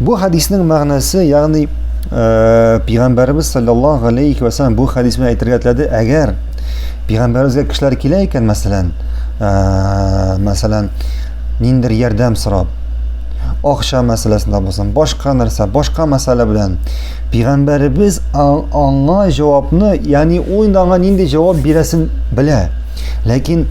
Бу хадиснең мәгънәсе, ягъни э, пигамбәрбез саллаллаһу алейхи ва саллям бу хадис белән әйтергә теләде, әгәр пигамбәрбезгә кешеләр килә икән, мәсәлән, э, мәсәлән, ниндер ярдәм сорап, акча мәсьәләсендә булсын, башка нәрсә, башка мәсьәлә белән пигамбәрбез аңа җавапны, ягъни ул инде аңа нинди җавап бирәсен белә. Ләкин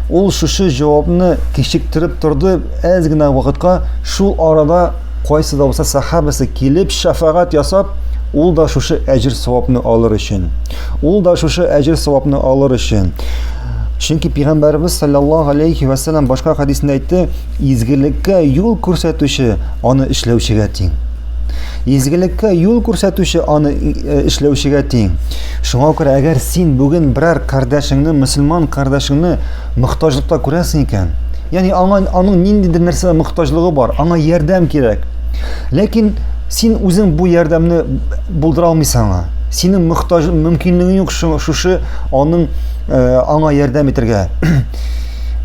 ул шушы җавапны кичектереп торды, әз генә вакытка Шул арада кайсы да булса сахабәсе килеп шәфәгать ясап, ул да шушы әҗер-савапны алыр өчен. Ул да шушы әҗер-савапны алыр өчен. Чөнки пәйгамбәрбез саллаллаһу алейхи ва саллям башка хадисендә әйтте, изгелеккә юл күрсәтүче аны эшләүчегә тиң. Изгелеккә юл күрсәтүче аны э, эшләүчегә тиң. Шуңа күрә әгәр син бүген берәр кардәшеңне, мусульман кардәшеңне мохтаҗлыкта күрәсең икән, Яни аңа аның ниндидер нәрсәгә мохтаҗлыгы бар, аңа ярдәм кирәк. Ләкин син үзең бу ярдәмне булдыра алмыйсың аңа. Синең мохтаҗ мөмкинлегең юк шушы аның э, аңа ярдәм итәргә.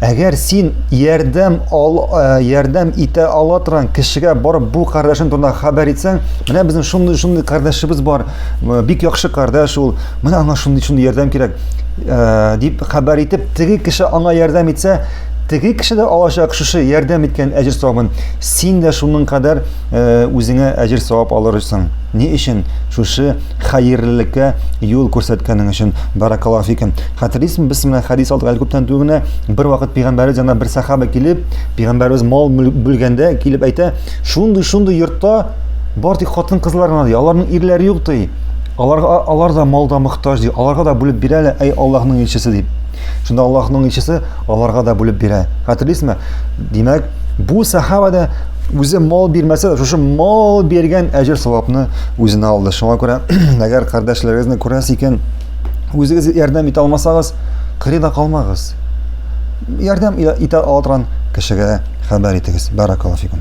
Әгәр син ярдәм ал, э, ярдәм итә ала торган кешегә барып бу кардәшең турында хәбәр итсәң, менә безнең шундый шундый кардәшебез бар, э, бик яхшы кардәш ул, Менә аңа шундый шундый ярдәм кирәк, э, дип хәбәр итеп, теге кеше аңа ярдәм итсә, теге кеше дә алачак шушы ярдәм иткән әҗер савабын. Син дә шуның кадәр э, үзеңә әҗер савап алырсың. Ни өчен? Шушы хәерлелеккә юл күрсәткәнең өчен. Баракаллаху фикум. Хәтерлисезме, без менә хәдис алдык әле күптән түгел генә бер вакыт пәйгамбәребез янына бер сахаба килеп, пәйгамбәребез мал бүлгәндә килеп әйтә, шундый-шундый йортта бар тик хатын-кызлар гына, аларның ирләре юк ди. Аларга алар да мал да мохтаҗ, ди. Аларга да бүлеп бирә әле, әй Аллаһның илчесе, дип. Шунда Аллаһның илчесе аларга да бүлеп бирә. Хәтерлисезме? Димәк, бу сахаба да үзе мал бирмәсә дә, шушы мал биргән әҗер савапны үзенә алды. Шуңа күрә, әгәр кардәшләрегезне күрәсез икән, үзегез ярдәм итә алмасагыз, кырыйда калмагыз. Ярдәм итә ала торган кешегә хәбәр итегез. Баракаллаһу фикум.